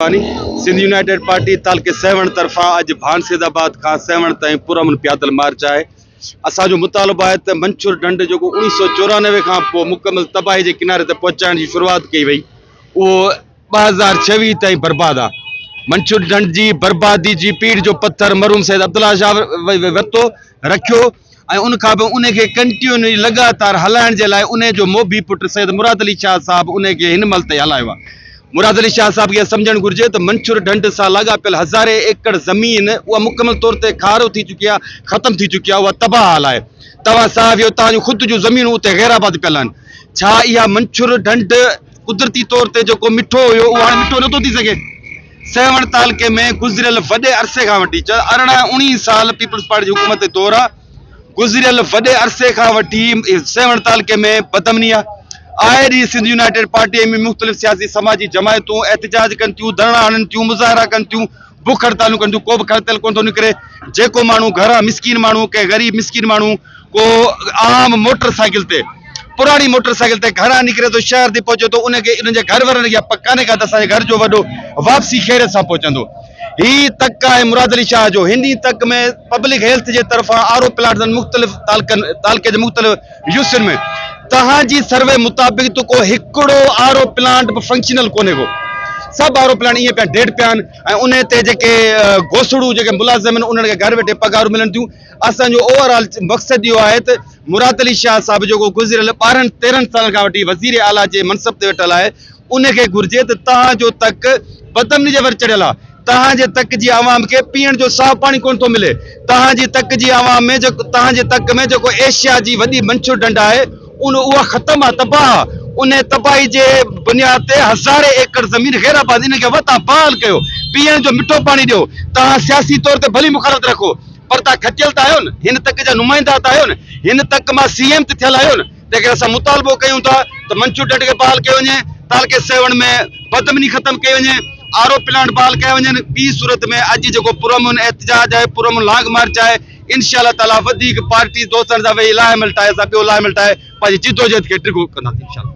ڀوتاني، Sindh united party تعلقي سيوهڻ طرفان اڄ ڀانسيد آباد کان سيوهڻ تائين پرامن پيادل مارچ آهي، اسان جو مطالبو آهي ته منڇر ڍنڍ جيڪو اوڻيهه سؤ چورانوي کان پوء مڪمل تباهي جي ڪناري تي پهچائڻ جي شروعات ڪئي وئي اهو ٻه هزار ڇويهه تائين برباد آهي، منڇر ڍنڍ جي بربادي جي پيڙهه جو پٿر مرحوم سيد عبدالله شاهه ورتو رکيو. ۽ ان کان پوء انهي کي ڪنٽيونئي لڳاتار هلائڻ جي لاء انهي جو موڀي پٽ سيد مراد علي شاهه صاحب انهي کي هن مهل تائين هلايو آهي. مراد علي شاهه صاحب کي اها سمجهڻ گهرجي ته منڇور ڍنڍ سان لاڳاپيل هزارين ايڪڙ زمين اها مڪمل طور تي کارو ٿي چڪي آهي، ختم ٿي چڪي آهي، اها تباهه حال آهي. توهان صاحب يو توهان جون خود جون زمينون اتي غيرآباد پيل آهن. ڇا اها منڇور ڍنڍ. قدرتي طور تي جيڪو مٺو هيو اهو هاڻي مٺو نٿو ٿي سگهي. سيوهڻ تعلقي ۾ گذريل وڏي عرصي کان وٺي چيو ارڙهن اڻيهن سال پيپلز پارٽي جي حڪومت جي دور آ گذريل وڏي عرصي کان وٺي سيوهڻ تعلقي ۾ بدامني آ آئي ڏينهن سنڌ يونائيٽيڊ پارٽي ۾ مختلف سياسي سماجي جماعتون احتجاج ڪن ٿيون ڌرڻا هڻن ٿيون مظاهرا ڪن ٿيون بک هڙتالون ڪن ٿيون ڪو به کڙتل ڪونه ٿو نڪري جيڪو ماڻهو گهران مسڪين ماڻهو ڪنهن غريب مسڪين ماڻهو ڪو عام موٽر سائيڪل تي پراڻي موٽر سائيڪل تي گهران نڪري ٿو شهر تي پهچي ٿو ان کي ان جي گهر وارن کي اها پڪ ڪانهي ڪا ته اسان جي گهر جو وڏو واپسي خيريت سان پهچندو هي تڪ آهي مراد علي شاهه جو هن ئي تڪ ۾ پبلڪ هيلٿ جي طرفان آر او پلانٽس ۽ مختلف تعلقن تعلقي جي مختلف يوسفين ۾ توهان جي سروي مطابق ته ڪو هڪڙو آر او پلانٽ به فنڪشنل ڪونهي ڪو سڀ آر او پلانٽ ائين پيا ڊيڊ پيا آهن ۽ انهي تي جيڪي گوسڙو جيڪي ملازم آهن انهن کي گهر ويٺي پگهارون ملن ٿيون اسان جو اوور آل مقصد اهو آهي ته مراد علي شاهه صاحب جيڪو گذريل ٻارهن تيرهن سالن کان وٺي وزير اعليٰ جي منصب تي ويٺل آهي انهي کي گهرجي ته توهان جو تڪ بدامني جي ور چڙهيل آهي توهان جي تڪ جي عوام کي پيئڻ جو صاف پاڻي ڪونه ٿو ملي. توهان جي تڪ جي عوام ۾ جيڪو توهان جي تڪ ۾ جيڪو ايشيا جي وڏي منڇر ڍنڍ آهي ان اها ختم آهي تباهه آهي انهي تباهي جي بنياد تي هزارين ايڪڙ زمين غير آباد انهن کي وتان بحال ڪيو پيئڻ جو مٺو پاڻي ڏيو توهان سياسي طور تي ڀلي مخالفت رکو پر توهان کٽيل ته آهيو نه هن تڪ جا نمائندا ته آهيو نه هن تڪ مان سي ايم ته ٿيل آهيو نه. جيڪڏهن اسان مطالبو ڪيون ٿا ته منڇون ڍنڍ کي بحال ڪيو وڃي، تعلقي سيوهڻ ۾ بدامني ختم ڪئي وڃي، آر او پلانٽ بحال ڪيا وڃن، ٻي صورت ۾ اڄ جيڪو پرامن احتجاج آهي، پرامن لانگ مارچ آهي، انشاء الله تعالٰي وڌيڪ پارٽي دوستن سان ويهي لاهه عمل ٺاهي اسان ٻيو لاهه عمل ٺاهي پنهنجي جدوجهد کي ڊگهو ڪنداسين انشاء الله.